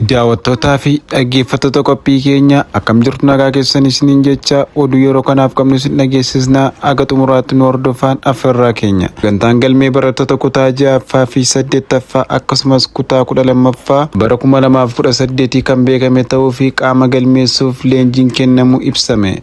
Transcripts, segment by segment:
Daawwattootaa fi dhaggeeffattoota qophii keenya akkam jirtu nagaa keessan isiniin jecha oduu yeroo kanaaf qabnu isin dhageessisna haga xumuraatti nu hordofaan affeerraa keenya sagantaan galmee barattoota kutaa ja'affaa fi saddeettaffaa akkasumas kutaa kudha lammaffaa bara kuma lamaaf kudha saddeetii kan beekame ta'uu fi qaama galmeessuuf leenjiin kennamu ibsame.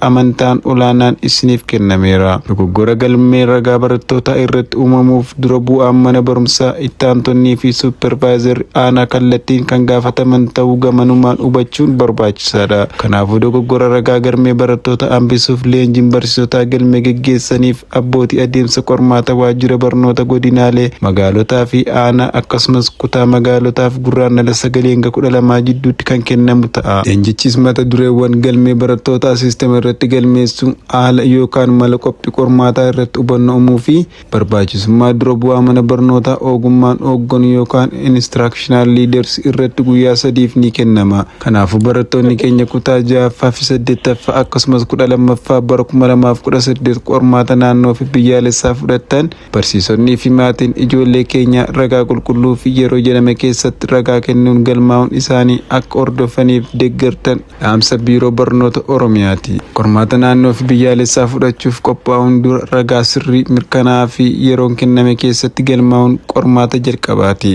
amantaan olaanaan isiniif kennameera. Dogoggora galmee ragaa barattootaa irratti uumamuuf dura bu'aan mana barumsaa, itti aantonnii fi suppervaayizarri aanaa kallattiin kan gaafataman ta'uu gamanumaan hubachuun barbaachisaadha. Kanaafuu dogoggora ragaa galmee barattootaa hambisuuf leenjiin barsiisotaa galmee geggeessaniif, Abbooti adeemsa qormaata waajjira barnoota godinaalee, magaalotaa fi aanaa akkasumas kutaa magaalotaaf Gurraandhala 9 hanga 12 jidduutti kan kennamu ta'a. Leenjichis mata dureewwan galmee barattootaa siistema irratti galmeessuu, haala yookaan mala qophii qormaataa irratti hubanno umuu fi barbaachisummaa dura bu'aa mana barnootaa oogummaan oogganu yookaan instructional leaders irratti guyyaa sadiif ni kennama. Kanaafuu barattoonni keenya kutaa 6ffaa fi 8ffaa akkasumas 12ffaa bara 2018 qormaata naannoo fi biyyaalessaa fudhattan barsiisonnii fi maatiin ijoollee keenyaa ragaa qulqulluu fi yeroo jedhame keessatti ragaa kennuun galmaa'uun isaanii akka hordofaniif deggertan dhaamsa Biiroo Barnoota Oromiyaati. Qormaata naannoo fi biyyaalessaa fudhachuuf qophaa'uun dura ragaa sirrii, mirkanaa'aa fi yeroon kenname keessatti galmaa'uun qormaata jalqabaati.